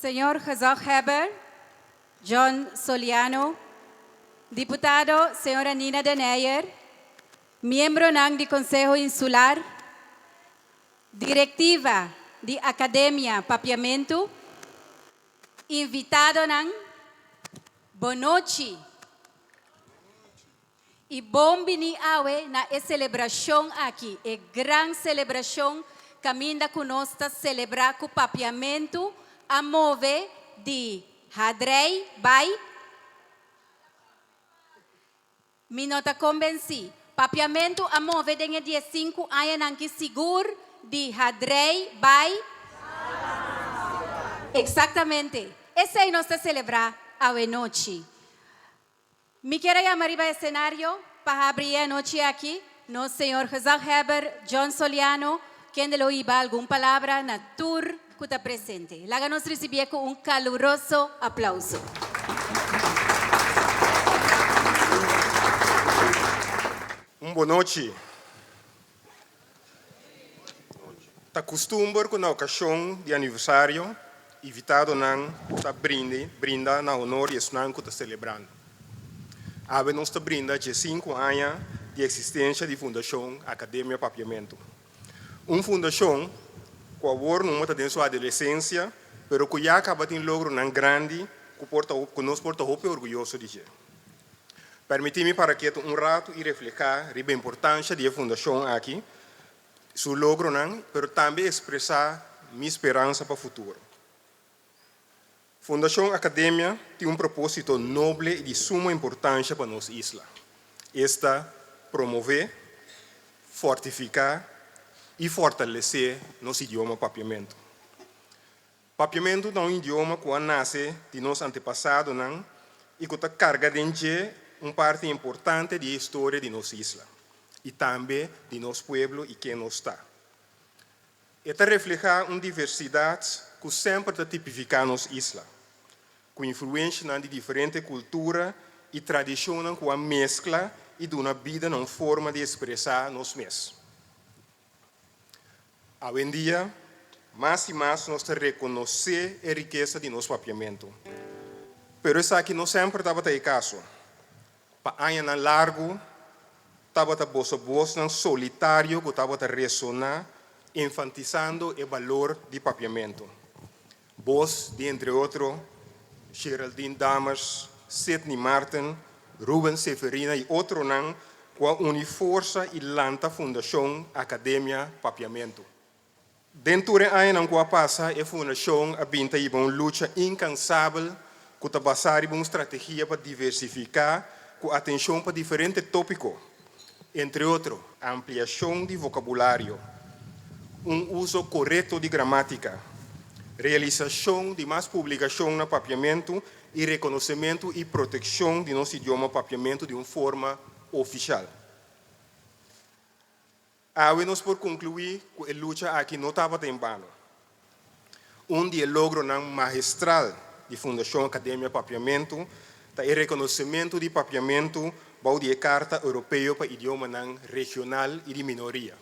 Señor Gezaghebber, John Soliano, Diputado Señora Nina de Neyer, Miembronan di Conseho Insular, Directiva di Academia Papiamentu, Invitadonan, Bo nochi. I bon bini awe na e selebrashon aki, e gran selebrashon kaminda ku nos ta selebrá ku papiamentu a move di hadrei bai. Mi no ta kombensí. Papiamentu a move den e dies sinku añanan ki sigur di hadrei bai. Eksaktamente esei nos ta selebrá awe nochi. Mi kier a yama riba esenario pa habri e anochi aki nos señor gezaghebber John Soliano, kende lo hiba algun palabra na tur cu ta presente. Laga nos ricibié cu un caluroso aplauso. Un bon nochi. Ta kustumber ku na okashon di aniversario invitadonan ta brinda na honor di esnan ku ta selebrando. Awe nos ta brinda dje sinku aña di eksistensha di Fundashon Akademia Papiamentu, un fundashon ku awor mumu ta den su adolesensha pero ku ya kaba tin logronan grandi ku nos por ta hopi orguyoso di dje. Permití mi para ketu un ratu i refleká riba e importansha di e fundashon aki, su logronan, pero tambe ekspresá mi speransa pa futuro. Fundashon Akademia tin un propósito noble i di suma importansha pa nos isla. Esta promové, fortifiká i fortalesé nos idioma Papiamentu. Papiamentu ta un idioma ku a nase di nos antepasadonan i ku ta karga den dje un parti importante di e historia di nos isla i tambe di nos pueblo i ken nos ta. E ta reflehá un diversidat ku semper ta tipifiká nos isla, ku influenshanan di diferente kultura i tradishonnan ku a meskla i duna bida na un forma di espresá nos mes. Awendia, mas i mas nos ta rekonosé e rikesa di nos Papiamentu. Pero esaki no semper tabata e kaso. Pa añanan largu, tabata boso bosnan solitario ku tabata resoná, enfantisando e balor di Papiamentu. Bos di entre otro Sheraldine Dammers, Sidney Martin, Ruben Seferina y otronan cu a uni forsa y lanta Fundacion Academia Papiamento. Den tur e añanan cu a pasa e fundacion a bin ta hiba un lucha incansabel cu ta basa riba un strategia pa diversifica cu atencion pa diferente topico entre otro. Ampliashon di vokabulario, un uso korekto di gramátika, realisashon di mas publikashon na papiamentu i rekonosementu i protekshon di nos idioma papiamentu di un forma ofishal. Awe nos por conclui cu e lucha aki no tabata en bano. Un di e logronan magistral di Fundacion Academia Papiamentu ta e reconocemento di Papiamentu bou di e Carta Europeo pa Idiomanan Regional y di Minoria.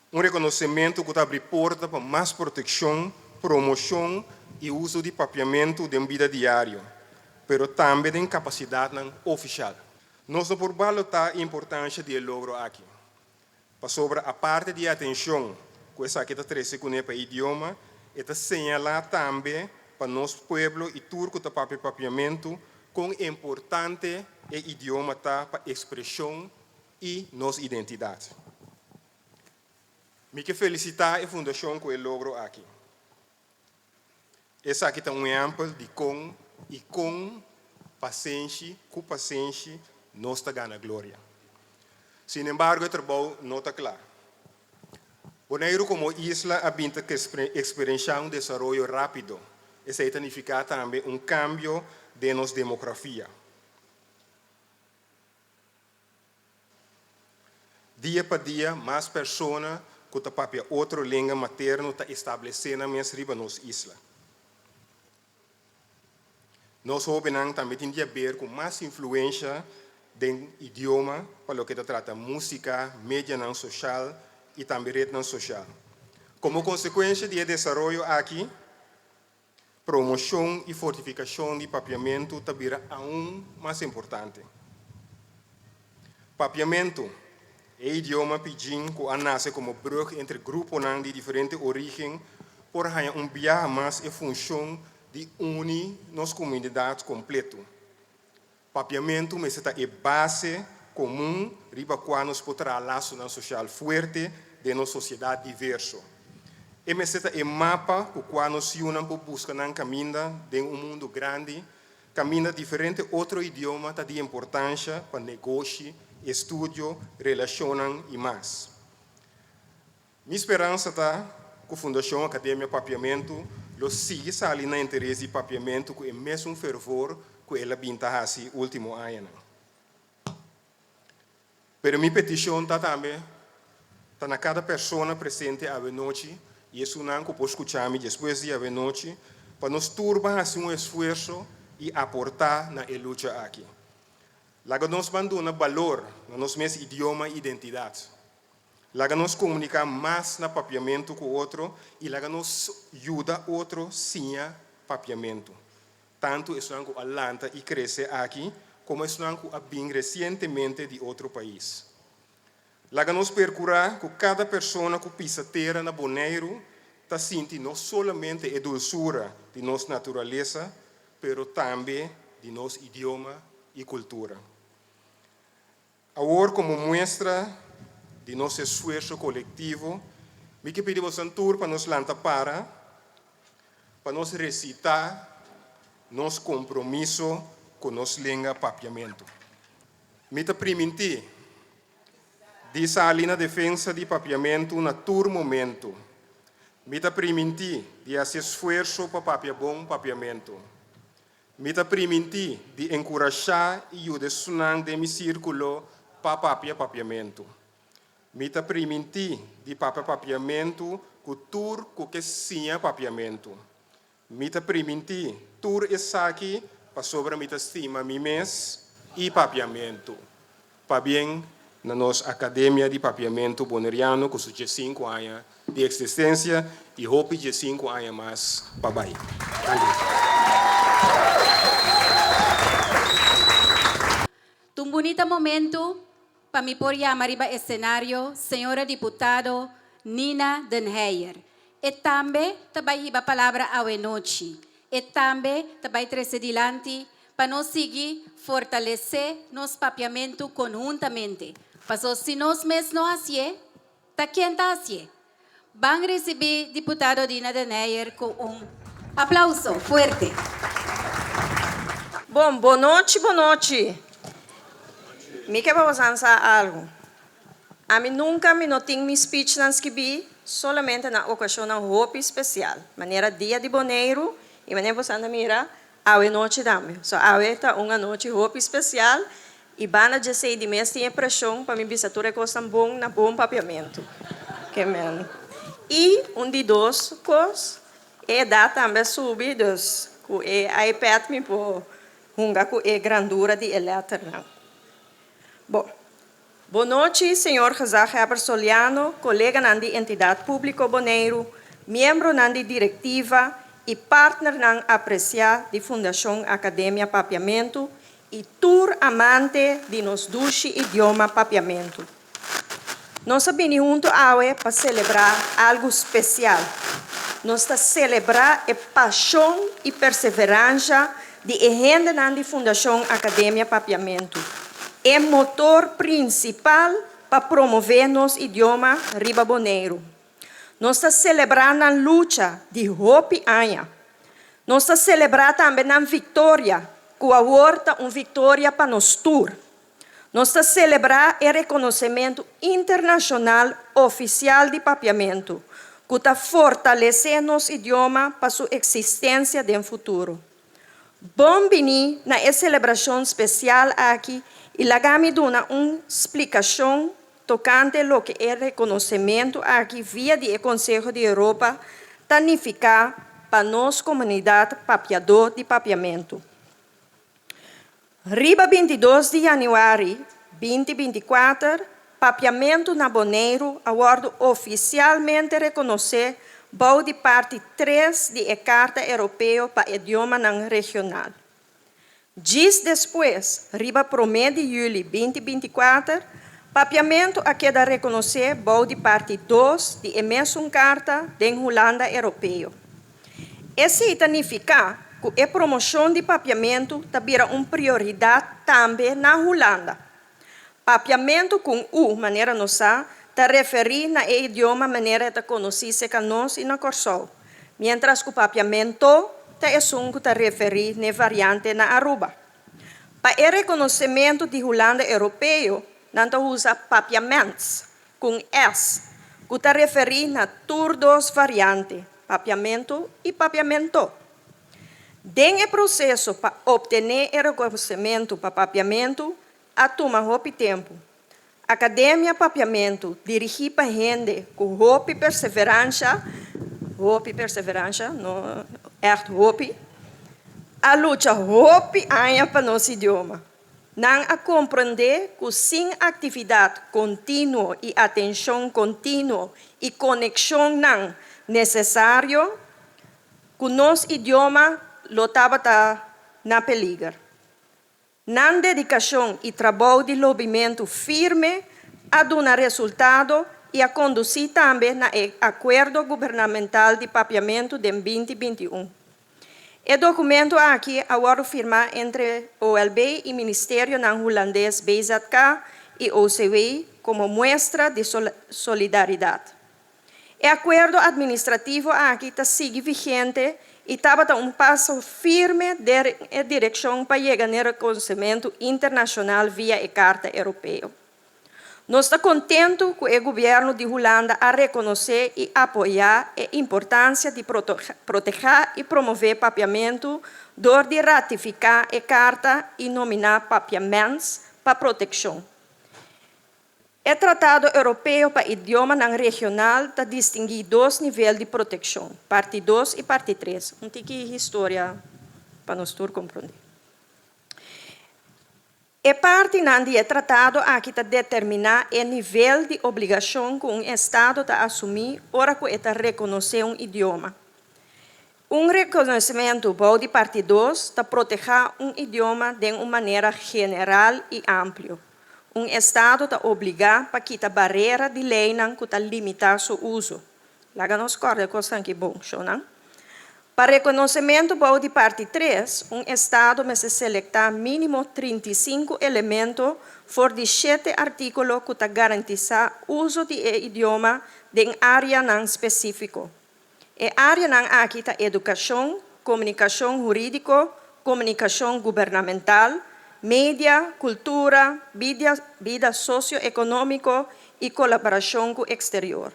Un reconocemento cu ta abri porta pa mas proteccion, promocion y uso di Papiamentu den bida diario, pero tambe den capacidadnan oficial. Nos no por balotá importansha di e logro aki, pasobra aparte di e atenshon ku esaki ta trese kuné pa e idioma, e ta señalá tambe pa nos pueblo i tur ku ta papia papiamentu kon importante e idioma ta pa ekspreshon i nos identidat. Mi ke felisitá e fundashon ku e logro aki. Esaki ta un ehèmpel di kon i kon pasenshi ku pasenshi nos ta gana gloria. Sinembargo e trabou no ta kla. Boneiru komo isla a bin ta eksperenshá un desaroyo rápido, esei ta nifiká tambe un kambio den nos demografia. Dia pa dia mas persona ku ta papia otro lenga materno ta establesé nan mes riba nos isla. Nos hóbennan tambe tin di haber ku mas influensha den idioma pa loke ta trata músika, medianan soshal i tambe retnan soshal. Komo konsekuensha di e desaroyo aki, Promoshon i fortifikashon di papiamentu ta bira aun mas importante. Papiamentu, e idioma pidgin ku a nase komo brug entre gruponan di diferente origen, por haña un biaha mas e funshon di uni nos komunidat kompletu. Papiamentu mester ta e base komun riba kua nos por traha lasonan sosial fuerte den nos sosiedat diverso. E mester ta e mapa ku kua nos yunan por buska nan kaminda den un mundu grandi, kaminda diferente otro idioma ta di importansha pa negoshi, estudio, relashonnan i mas. Mi speransa ta cu Fundacion Academia Papiamentu lo sigui sali na interes di papiamentu cu e mesun fervor cu el a bin ta haci ultimo añanan. Pero mi peticion ta tambe ta na cada persona presente awenochi y esunnan cu por scucha mi despues di awenochi pa nos turba haci un esfuerso y aporta na e lucha aki. Laga nos banduna balor na nos mes idioma y identidad. Laga nos komuniká mas na papiamentu ku otro i laga nos yuda otro siña papiamentu, tantu esunnan ku a lanta i krese aki komo esunnan ku a bin resientemente di otro pais. Laga nos perkurá ku kada persona ku pisa tera na Boneiru ta sinti no solamente e dulsura di nos naturalesa pero tambe di nos idioma i kultura. Awor komo muestra di nos esfuerso kolektivo mi ke pidi boso tur pa nos lanta para pa nos resitá nos kompromiso ku nos lenga papiamentu. Mi ta primintí di sali na defensa di papiamentu na tur momentu. Mi ta primintí di hasi esfuerso pa papia bon papiamentu. Mi ta primintí di enkurashá i yuda esunnan den mi sírkulo pa papia papiamentu. Mi ta primintí di papia papiamentu ku tur ku ke siña papiamentu. Mi ta primintí tur esaki pasobra mi ta stima mi mes i papiamentu. Pabien na nos Akademia di Papiamentu Boneriano ku su dje sinku aña di eksistensia i hopi dje sinku aña mas pa bai. Ta un bunita momentu pa mi por yama riba esenario señora diputado Nina Denheyer. E tambe ta bai hiba palabra awe nochi. E tambe ta bai trese dilanti pa nos sigui fortalesé nos papiamentu konhuntamente. Pasó si nos mes no hasié, ta ken ta hasié? Ban risibí Diputado Dina de Neyer ku un aplauso fuerte. Bon, bo nochi, bo nochi. Mi ke pa bosan sa algu. Ami nunka mi no tin mi spichnan skibí solamente na okashonnan hopi spesial, manera Dia di Boneiru i manera bosan ta mira Awe nochi tambe. So awe ta un anochi hopi special y banda dje sei di mes tin e presion pa mi bisa tur e cosnan bon na bon papiamento. Ke men. Y un di dos cos, e edad tambe a subi dus cu e iPad mi por hunga cu e grandura di e letternan. Bo. Bon nochi, señor gezaghebber Soliano, coleganan di Entidad Publico Boneiru, miembronan di directiva y partnernan aprecia di Fundacion Academia Papiamentu y tur amante di nos dushi idioma Papiamentu. Nos a bini hunto awe pa celebra algo special. Nos ta celebra e pasion y perseverancia Di e hendenan di Fundashon Akademia Papiamentu, e motor prinsipal pa promové nos idioma riba Boneiru. Nos ta selebrá nan lucha di hopi aña. Nos ta selebrá tambe nan viktoria, ku awor ta un viktoria pa nos tur. Nos ta selebrá e rekonosementu internashonal ofisial di Papiamentu ku ta fortalesé nos idioma pa su eksistensia den futuro. Bon bini na e selebrashon spesial aki i laga mi duna un splikashon tokante loke e rekonosementu aki via di e Konseho di Europa ta nifiká pa nos komunidat papiadó di Papiamentu. Riba bintidos di yanüari binti binti kuater, Papiamentu na Boneiru a wòrdu ofisialmente rekonosé bou di parti tres di e Karta Europeo pa Idiomanan Regional. Djis despues, riba promé di yüli binti binti kuater, Papiamentu a keda rekonosé bou di parti dos di e mesun karta den Hulanda Europeo. Esei ta nifiká ku e promoshon di papiamentu ta bira un prioridat tambe na Hulanda. Papiamentu kun u, manera nos sa, ta referí na e idioma manera e ta konosí seka nos i na Kòrsou, miéntras ku papiamento ta esun ku ta referí n'e variante na Aruba. Pa e rekonosementu di Hulanda Europeo, nan ta usa papiaments. Con es, cu ta referi na tur dos variante, papiamento y papiamento. Den e proceso pa obtene e reconocemento pa papiamento a tuma hopi tempo. Academia Papiamento dirigi pa hende cu hopi perseverancia, hopi perseverancia, no echt hopi, a lucha hopi aña pa nos idioma. Nan a komprendé ku sin aktividat kontinuo i atenshon kontinuo i konekshonnan nesesario, ku nos idioma lo tabata na peliger. Nan dedikashon i trabou di lobimentu firme a duna resultado i a kondusí tambe na e Akuerdo Gubernamental di Papiamentu den binti binti un. E dokumento aki a wòrdu firmá entre OLB i ministerionan hulandes BZK i OCW komo muestra di solidaridat. E akuerdo administrativo aki ta sigui vigente i tabata un paso firme den e direkshon pa yega n'e rekonosementu internashonal via e Karta Europeo. Nos ta contentu cu e gobierno di Hulanda a reconoce y apoya e importancia di protege y promove papiamento door di ratifica e carta y nomina Papia Mens pa proteccion. E Tratado Europeo pa Idiomanan Regional ta distingui dos nivel di proteccion, Parti dos y Parti tres. Un tiki historia pa nos tur comprende. E partinan di e tratado aki ta determiná e nivel di obligashon ku un estado ta asumí ora ku e ta rekonosé un idioma. Un rekonosementu bou di parti dos ta protehá un idioma den un manera general i amplio. Un estado ta obligá pa kita barera di leinan ku ta limitá su uso. Laga nos kòrda e kosnan ki bon, shownan. Pa rekonosementu bou di parti tres, un estado mester selektá mínimo trinta i sinku elemento for di shete artíkulo ku ta garantisá uso di e idioma den áreanan spesífiko. E áreanan aki ta edukashon, komunikashon hurídiko, komunikashon gubernamental, media, kultura, bida sosioekonómiko i kolaborashon ku eksterior.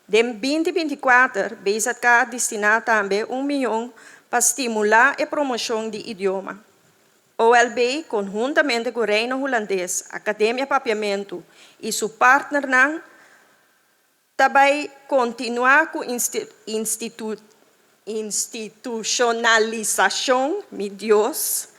Den binti binti kuater BZK a destiná tambe un mion pa stimulá e promoshon di idioma. OLB konhuntamente ku Reino Hulandes, Akademia Papiamentu i su partnernan, Ta bai kontinuá ku institushonalisashon, mi Dios,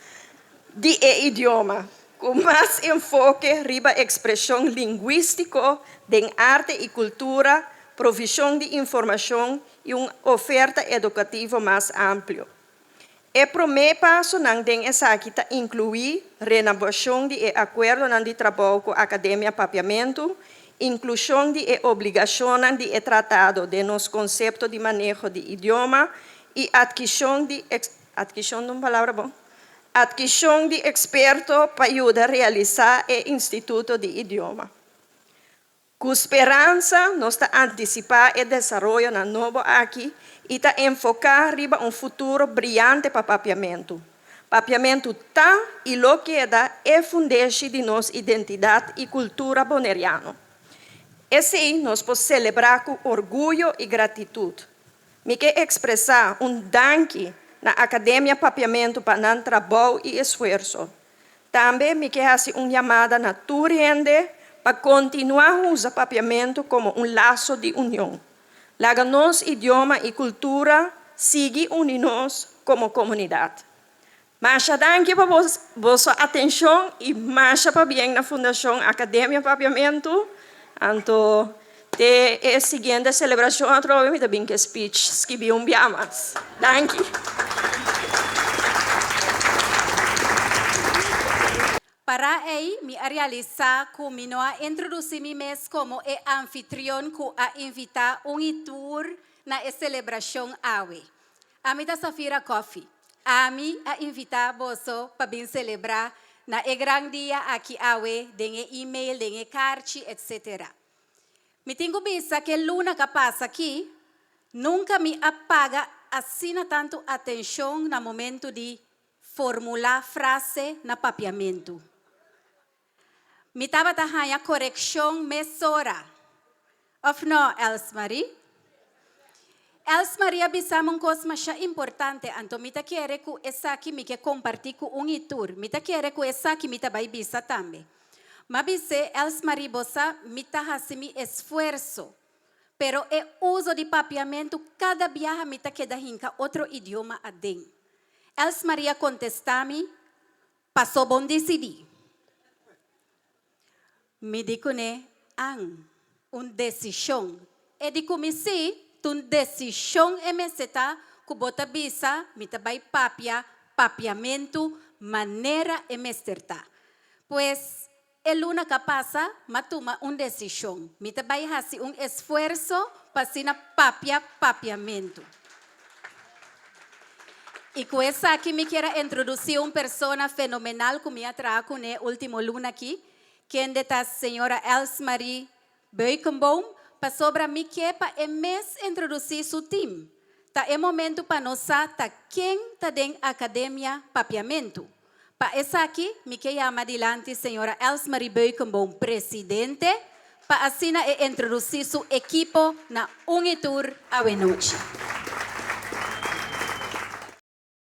di e idioma, ku mas enfoke riba ekspreshon lingwístiko den arte i kultura, provishon di informashon i un oferta edukativo mas amplio. E promé pasonan den esaki ta inkluí renobashon di e akuerdonan di trabou ku Akademia Papiamentu, inklushon di e obligashonnan di e tratado den nos konsepto di maneho di idioma i atkishon di atkishon ta un palabra bon? atkishon di eksperto pa yuda realisá e instituto di idioma. Ku speransa nos ta antisipá e desaroyonan nobo aki i ta enfoká riba un futuro briante pa Papiamentu. Papiamentu ta i lo keda e fundeshi di nos identidat i kultura boneriano. Esei nos por selebrá ku orguyo i gratitut. Mi ke ekspresá un danki na Akademia Papiamentu pa nan trabou i esfuerso. Tambe mi ke hasi un yamada na tur hende pa kontinuá usa Papiamentu komo un laso di union. Laga nos idioma i kultura sigui uni nos komo komunidat. Masha danki pa boso atenshon i masha pabien na Fundashon Akademia Papiamentu, anto. Te e siguiente celebracion atrobe mi ta bin cu e speech skibi un bia mas. Danki. Para ei mi a realisa cu mi no a introduci mi mes como e anfitrion cu a invita un y tur na e celebracion awe. Ami ta Safira Coffee. Ami a invita boso pa bin celebra na e gran dia aki awe den e email, den e carchi, etc. Mi tin cu bisa cu e luna ca pasa aki, nunca mi a paga asina tanto atencion na momento di formula frase na Papiamento. Mi tabata haña korekshon mesora, òf nò, Elsmarie? Elsmarie a bisa mi un kos masha importante, anto mi ta kere ku esaki mi ke kompartí ku un i tur. Mi ta kere ku esaki mi ta bai bisa tambe. Mi a bis'é, Elsmarie, bo sa, mi ta hasi mi esfuerso, pero e uso di papiamentu kada biaha mi ta keda hinka otro idioma aden. Elsmarie a kontestá mi, Paso bon decidi. Mi di cune an, un decision e di cu mi si ta un decision e mester ta cu bo ta bisa mi ta bay papia, papiamento, manera e mester ta. Pues E luna ka pasa, m'a tuma un desishon. Mi ta bai hasi un esfuerso pa asina papia papiamentu. I ku esaki mi kier a introdusí un persona fenomenal ku mi a traha kuné último luna akí, kende ta señora Elsmarie Beukenboom, Pasobra mi ke pa e mes introdusí su tim. Ta e momentu pa nos sa ta ken ta den Akademia Papiamentu. Pa esaki mi ke yama dilanti señora Elsmarie Beukenboom presidente pa asina e introdusí su ekipo na un i tur awe nochi.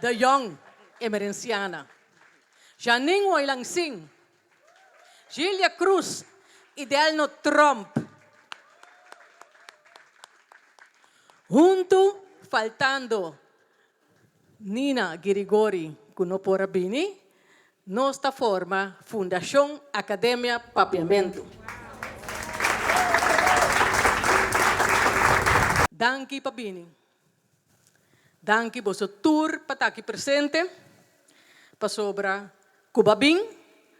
De Jong, e Merenciana. Janine Woylangsing, Jilia Cruz y Delno Tromp. Hunto faltando Nina Girigori cu no por a bini, nos ta forma Fundacion Academia Papiamento. Danki pa bini. Danki boso tur pa ta aki presente, pasobra ku bo a bin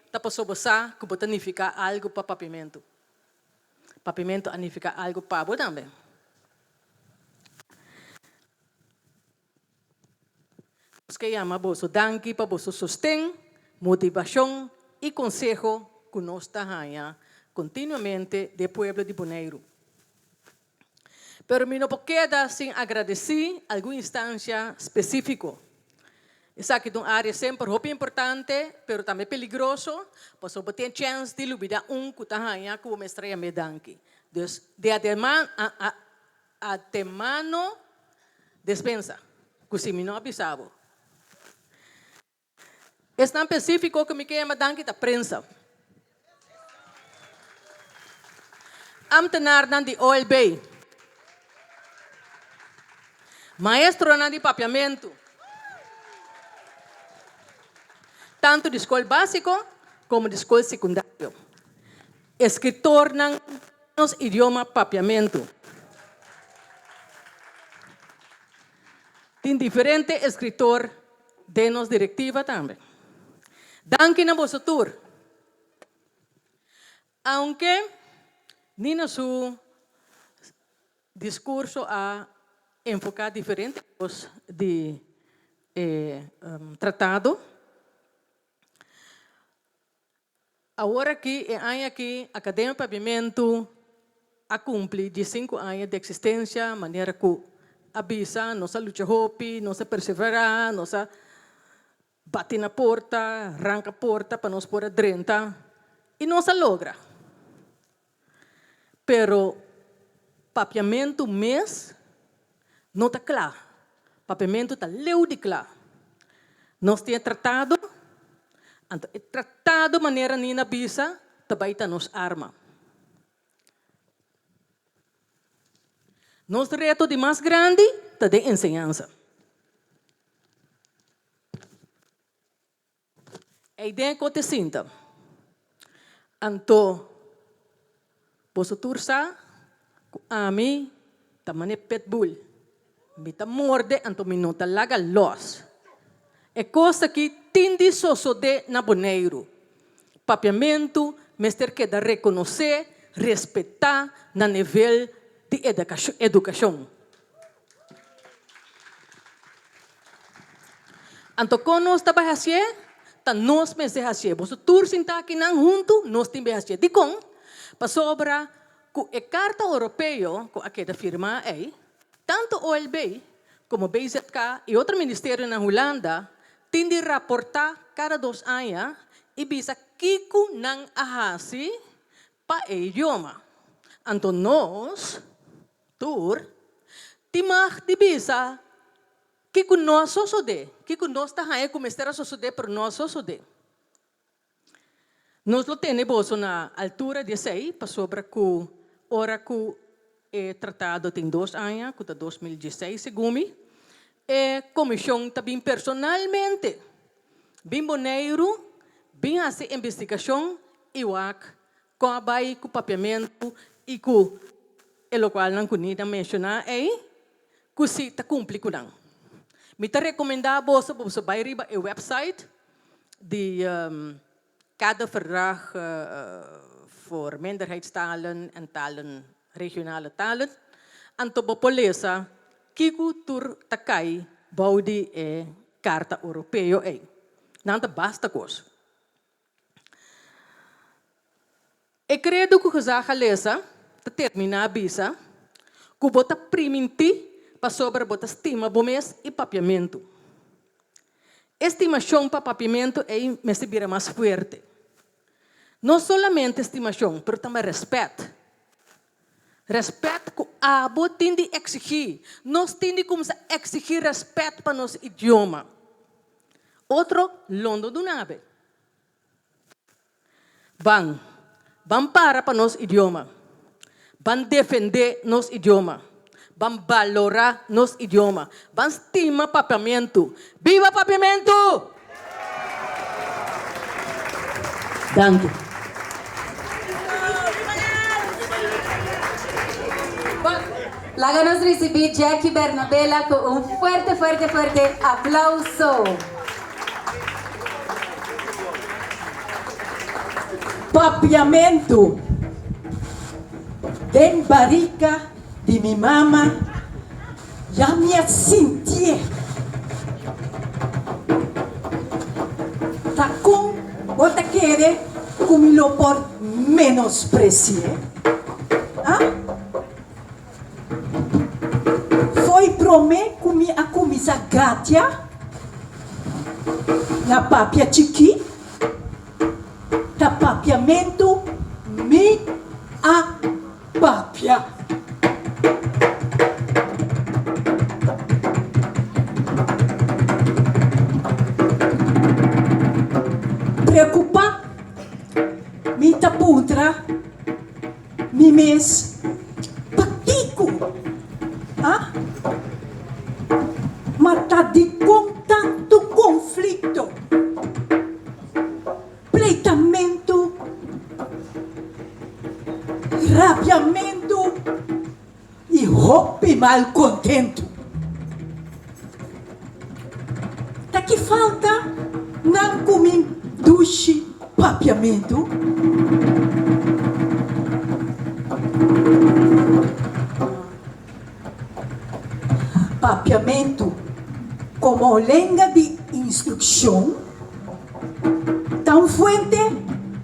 ta paso bo sa ku bo ta nifiká algu pa Papimentu. Papimentu a nifiká algu pa bo tambe. Nos ke yama boso danki pa boso sosten, motivashon i konseho ku nos ta haña kontinuamente den e pueblo di Boneiru. Pero mi no por keda sin agradeci algun instancia specifico. Esaki ta un area semper hopi importante, pero tambe peligroso, pasobra bo tin chens di lubida un cu ta haya cu bo mester a yam'é danki. Dus, di atemano despensa, cu si mi no a bisa bo. Esnan pesífiko ku mi ke yama danki ta prensa, amtenarnan di OLB, maestronan di papiamentu, tantu di skol básiko komo di skol sekundario, e skritornan di nos idioma papiamentu. Tin diferente e skritor den nos direktiva tambe. Danki na boso tur. Aunke ni na su discurso a enfoca diferente cos di e tratado. Awor aki, e aña aki, Academia Paviamentu a cumpli di sinku aña di existencia, manera cu a bisa, nos a lucha hopi, nos a persevera, nos a bati na porta, ranca porta pa nos por a drenta y nos a logra. Pero papiamentu mes no ta cla. Papiamentu ta leu di cla. Nos tin e tratado, anto e tratado manera Nina a bisa ta bay ta nos arma. Nos reto di mas grandi ta den enseñansa. Ei den e kote sinta. Anto boso tur sa ku ami ta manera pitbull. Mi ta morde anto mi no ta laga lòs. E kos aki tin di sosodé na Boneiru. Papiamentu mester keda rekonosé, respetá na nivel di edakashon edukashon. Anto kon nos ta bai hasié? Ta nos mester hasié. Boso tur sintá kinan huntu, nos tin be hasié. Dikon? Pasobra ku e Karta Oropeo ku a keda firmá ei, tantu OLB komo BZK i otro ministerionan Hulanda tin di raportá kada dos aña i bisa kiko nan a hasi Pa e idioma. Anto nos, tur, tin mag di bisa kiko nos sosode, kiko nos ta haña ku mester a sosode pero no a sosode. Nos lo tene boso na altura di esei pasobra ku ora ku. E tratado tin dos aña, ku ta dos mil dieseis segumi. E komishon ta bin personalmente bin Boneiru bin hasi investigashon i wak kon a bai ku papiamentu i ku e lokalnan ku Nida menshoná ei, ku si ta kumpli ku nan. Mi ta rekomendá boso pa boso bai riba e wèpsait di. Kada verdrag voor minderheidstalen en talen regionale talen, anto bo por lesa kiko tur ta kai bou di e Karta Oropeo ei. Nan ta basta kos. E kredo ku José a lesa ta terminá bisa, Ku bo ta primintí pasobra bo ta stima bo mes i papiamentu. E stimashon pa papiamentu ei mester bira mas fuerte. No solamente stimashon, pero tambe rèspèt. Rèspèt ku abo tin di eksigí. Nos tin di kumsa eksigí rèspèt pa nos idioma. Otro lo no duna be. Ban. Ban para pa nos idioma. Ban defendé nos idioma. Ban balorá nos idioma. Ban stima Papiamentu. Biba Papiamentu! Danki. Bo laga nos risibí Jackie Bernabela ku un fuerte fuerte fuerte aplauso. Papiamentu den barika di mi mama ya mi a sintié ta kon bo ta kere ku mi lo por menospresié? Ah? Foi prome cu mi a cuminsa gatia na papia chiki ta papiamentu mi a papia. Preocupa mi ta puntra. Mi mes, pakiko? Ha? Ma ta dikon tantu konflikto, pleitamentu, rabiamentu? I hopi mal kontentu. Ta ki falta nan ku mi dushi papiamentu? Papiamentu komo lenga di instrukshon. Ta un fuente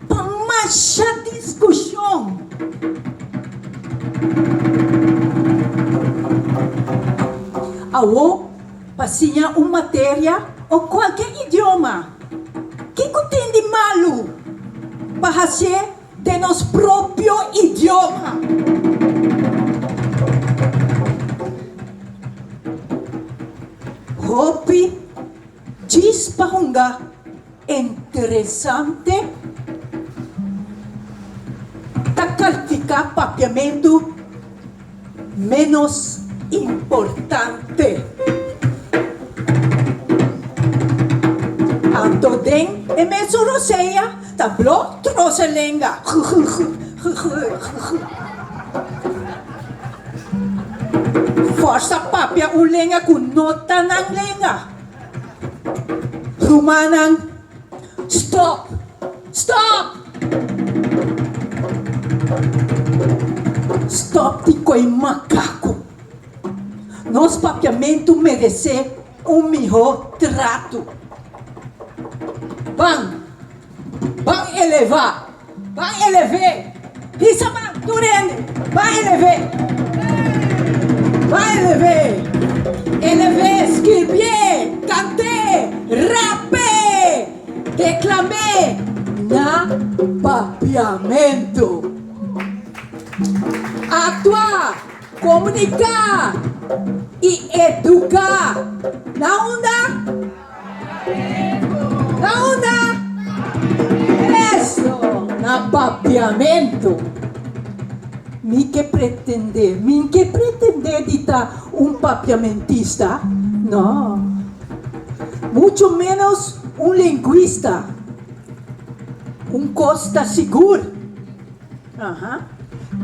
pa masha diskushon. Awor, pa siña un materia o kualke idioma, ke ku tin di malu pa hasié den nos propio idioma? Hopi. Djis pa hunga interesante ta kalifiká papiamentu ménos importante. Anto den e mesun rosea. Tabló troce lenga gugugugugugugug. Forsa papia un lenga cu no ta nan lenga. Rumannan, stop! Stop! Stop di coy macacu. Nos papiamentu merece. Un mihó tratu. Ban. Ban elevá. Ban elev'é. Hisa ban, tur hende. Ban elev'é. Ey! Ban elev'é. Elev'é, skirbié, kant'é, rap'é, deklam'é na papiamentu. Aktuá. Komuniká i eduká. Na unda? Na unda? Eso! Na Papiamentu. Mi ke pretendé, min ke pretendé di ta un papiamentista? No. Mucho ménos un lenguista. Un kos ta sigur.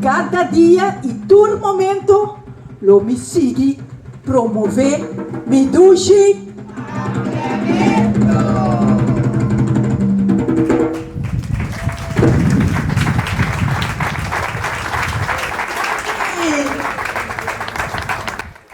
Kada dia i tur momento lo mi sigui promové mi dushi aprendimentu.